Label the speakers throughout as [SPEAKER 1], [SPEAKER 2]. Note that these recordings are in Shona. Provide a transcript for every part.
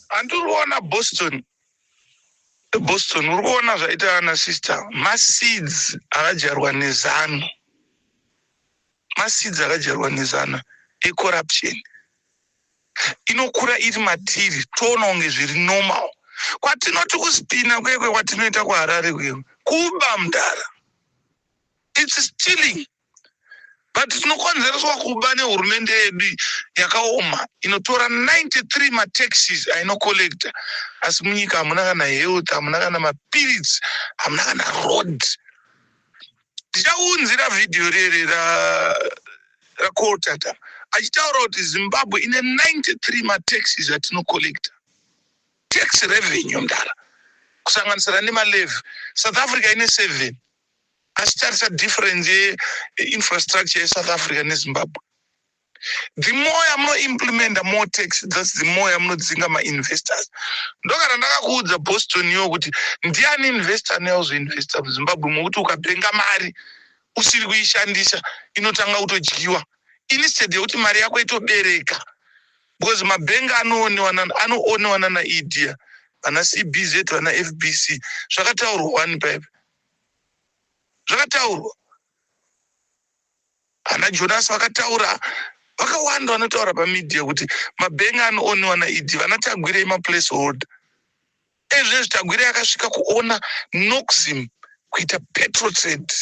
[SPEAKER 1] handi uri kuona boston eboston uri kuona zvaita ana sister maseeds akadyarwa nezano maseeds akadyarwa nezano ecorruption inokura iri matiri toona kunge zviri normal kwatinoti kuspina kwekwe kwatinoita kuharare kwewe kuba mdara its stealing but tinokonzereswa kuba nehurumende yedu yakaoma inotora 93 mataxis ainocollecta asi munyika hamuna kana health hamuna kana mapiritsi hamuna kana road ndichaunzira vhidhiyo rere racoltata achitaura kuti zimbabwe ine 93 mataxis atinocollecta tax revenue mdara kusanganisira nemalevy south africa ine seven Asi tarisa difference ye infrastructure ye South Africa ne Zimbabwe. The more yamuno implementa more tax that's the more yamunodzinga ma investors. Ndokana ndakakuudza Boston yo kuti ndiani investor anoya kuzoinvesta muZimbabwe mokuti ukapenga mari usiri kuishandisa inotanga kutodyiwa instead yekuti mari yako itobereka because mabhengi anoonewa nana anoonewa nana idea vana cbz vana fbc zvakataurwa wani paipa zvakataurwa ana Jonas vakataura vakawanda vanotaura pamedia kuti mabhengi anooniwa naED vana Tagwirei maplace holder ezvezvi Tagwirei akasvika kuona Noxim kuita petrotrade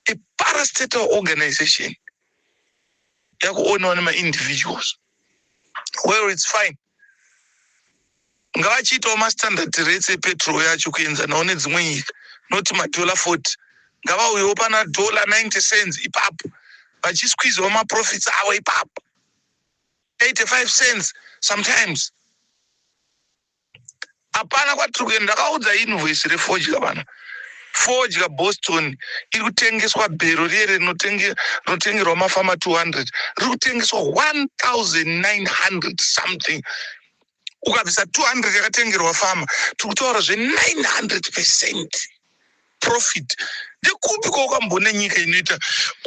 [SPEAKER 1] a parastatal organization yakuoniwa nemaindividuals well it's fine ngavachiitawo mastandard rates epetrol yacho kuenzanawo nedzimwe nyika not madollar 40 ngavauyewo pana dollar 90 cents ipapo vachisqueezawo maprofits avo ipapo 85 cents sometimes Hapana kwatiri kuenda ndakaudza invoice refodya vana fodya boston iri kutengeswa bhero riye rinotengerwa mafama 200 riri kutengeswa 1900 something ukabvisa 200 yakatengerwa fama tiri kutaura zve900 percent profit ndekupi kwaukamboona nyika inoita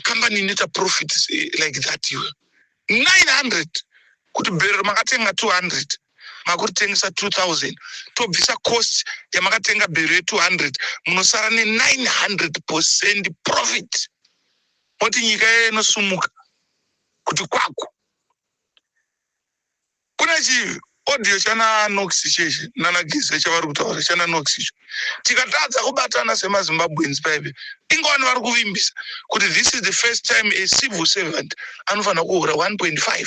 [SPEAKER 1] kambani inoita profit eh, like that iwe 900 kuti bhero makatenga 200 makuritengesa 2000 tobvisa cost yamakatenga bhero ye 200 munosara ne 900 percent profit moti nyika yeye inosumuka kuti kwaku kune chi audio chana nox chechi nana gize chavari kutaura chana nox icho tikatadza kubatana semazimbabweans paive ingowani vari kuvimbisa kuti this is the first time a civil servant anofanira kuhura 1.5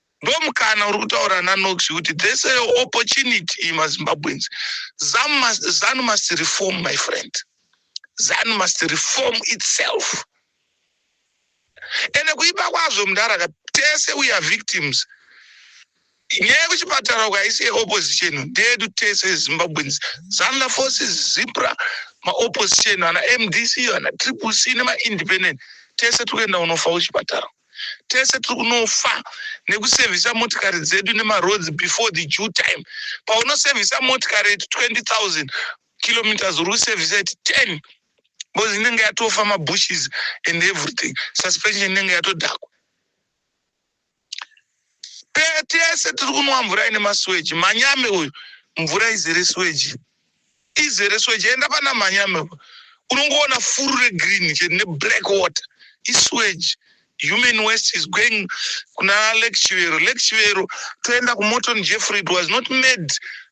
[SPEAKER 1] Ndomukana uri kutaura naNox kuti there's a opportunity iyi maZimbabweans. Zam must, Zanu must reform my friend. Zanu must reform itself. Ende kuipa kwazvo mdara ka tese we are victims. Nyaya yekuchipatara uko haisi yeopposition ndeyedu tese Zimbabweans. Zanla forces, Zipra, maopposition ana MDC, ana Triple C nemaindependent tese tiri kuenda kunofa kuchipatara. tese tiri kunofa nekusevhisa motikari dzedu nemaroads before the due time paunosevhisa motikari iti 20000 kilometers uri kusevhisa iti 10 because inenge yatofa mabushes and everything suspension inenge yatodhakwa Pe- tese tiri kunwa mvura ine masweji manyame uyu mvura izere sweji izere sweji enda pana manyame uyu. unongoona furu regreen chete neblack water isweji human waste is going kuna lake chivero lake chivero toenda kumorton jeffrey it was not made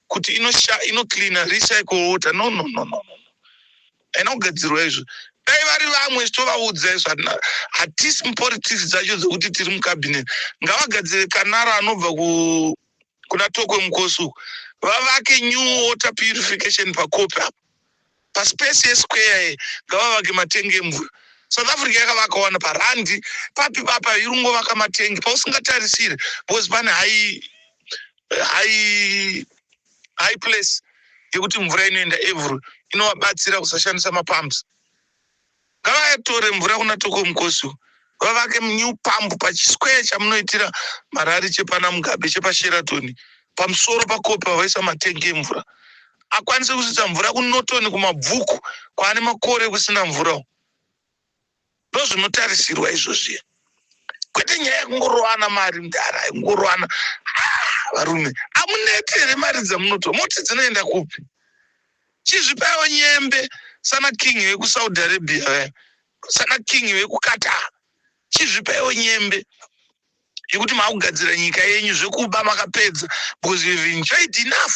[SPEAKER 1] kuti inosha inocleaner recycle water no no no no no haina kugadzirwa izvo dai vari vamwe tovaudza izvo hatisi mupolitics dzacho dzekuti tiri mucabinet ngavagadzire kanara anobva kuna tokwe mukosi uku vavake new water purification pakopi apo paspace yesquare ngavavake matenge emvura south africa yakavakawana parandi papi papa iri kungovaka matengi pausingatarisire because pane hai hai high place yekuti mvura inoenda every inovabatsira kusashandisa mapumps ngavayatore mvura kuna toko mukosi vavake new pump pachisquare chamunoitira marari chepana mugabe chepasheratoni pamusoro pakopi vavaisa matengi emvura akwanise kusvitsa mvura kunotoni kumabvuku kwaane makore kusina mvura ndozvinotarisirwa izvozviya kwete nyaya yekungorowana mari mdara kungorowana ah, varume amuneti here mari dzamunotora moti dzinoenda kupi chizvipawo nyembe sana king vekusaudi arabia vaya sana king vekukata chizvipawo nyembe yekuti maakugadzira nyika yenyu zvekuba makapedza because you've enjoyed enough